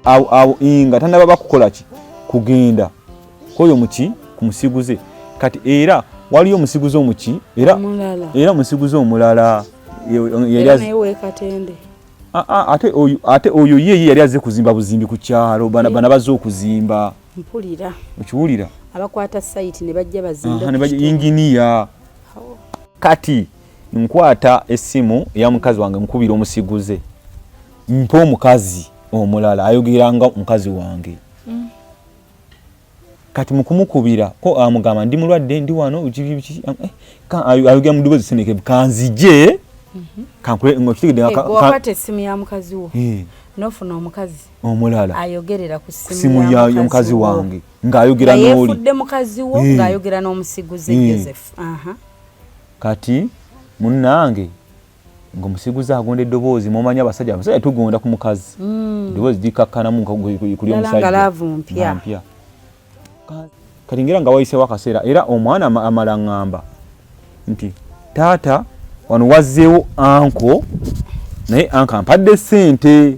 awo awo nga tanaba bakukola ki kugenda koyo muki kumusiguze kati era waliyo omusiguze omuki era era omusiguze omulala ate oyo ye yali aze kuzimba buzimbi ku kyalo bana baze okuzimba mpulira okiwulira abakwata site ne bajja bazimba ne bajja engineer kati nkwata essimu ya mukazi wange nkubira omusiguze mpa omukazi omulala ayogeranga mukazi wange mm. kati mukumukubira ko amugamba ndi mulwadde ndi wano eh, ayogera mu ddoboozi seneke kanzije mm-hmm. kankuleokitegedde eh, wakata essimu ya mukazi wo eh. nofuna omukazi omulala ayogerera ku simu ya mukazi wange ng'ayogera n'oli yefudde mukazi wo eh. ng'ayogera n'omusiguze eh. Joseph kati munnange ng'omusiguze agonda eddoboozi mumanya abasajja abasajja tugonda ku mukazi hmm. eddoboozi likakkanamu kuli omusajjampya kati ngera nga wayisewo akaseera era omwana amala ŋŋamba nti taata wano wazzeewo anko naye anka mpadde ssente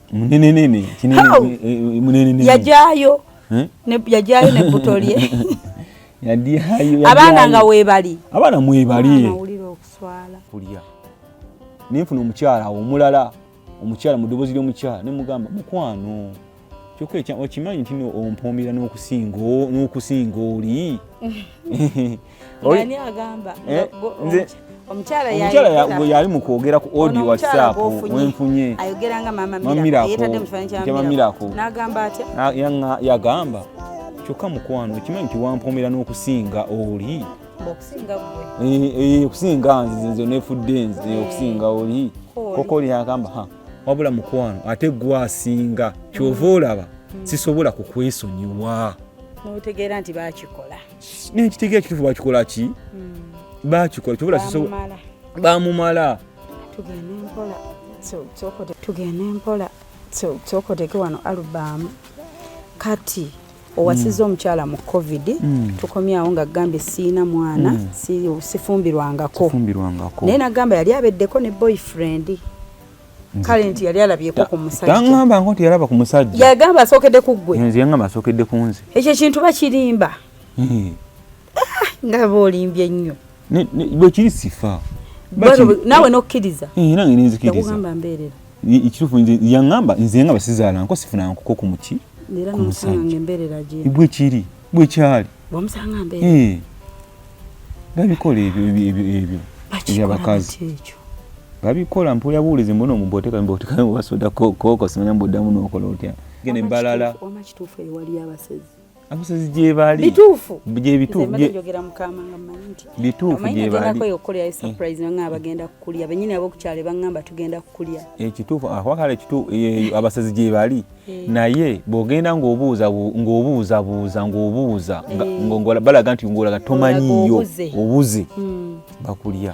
munenenene kinene yajayo eh? ne yajayo ne butolye yadihayo abana nga webali abana mwebali ulira okuswala kulya ninfuna omukyala omulala omukyala mudobozi lyo mukyala ne mugamba mukwano kyokka ekya okimanyi ntino ompombira n'okusinga n'okusinga oli Ani agamba? Eh, nze omukyala yali mu kwogera ku audio whatsapp wenfunye ayogera nga mama Miracle yetadde mu kifananyi kya Mama Miracle n'agamba atya yagamba kyokka mukwano okimanyi nti wampomera n'okusinga oli okusinga eh, eh, nze nze nefudde nze eh, okusinga oli koko oli yagamba ha wabula mukwano ate gwe asinga kyova olaba mm. sisobola kukwesonyiwa notegeera nti bakikola naye ekitegeera kitufu bakikola ki hmm. bakikola kyobola bamumala tugende mpola tokoteke wano alubamu kati owasiza hmm. omukyala mu covid hmm. tukomyawo nga gambye siina mwana sifumbirwangako naye nagamba yali abeddeko ne boyfriend kale nti yali alabyeko ku musajja tangamba ngo nti yalaba ku musajja yagamba asokedde ku gwe nze yangamba asokedde ku nze ekyo kintu bakirimba hmm. ah, nga boolimbye nnyo bwekiri sifa nawe nokkiriza eh, nange ninzikirizagamba mbeerera ekitufu yangamba nze yangamba sizaala nko sifuna nkoko ku muki ku musajja bwekiri bwe kyali bwomusanga mbeera eh. babikola ebyo ebyo ebyo ebyabakazi babikola mpulira buwulizi mbona omubooteka mbooteka basoda kooko simanya mboddamu n'okola otya gene mbalala omakituufu eyo waliyo abasezi abasazi gyebali bituufu gyebituufu gyebaliekituufu abasazi gyebali Eh. naye bwogenda ng'obuuza ng'obuuzabuuza ng'obuuza eh. balaga nti ng'olaga tomanyiiyo obuze hmm. bakulya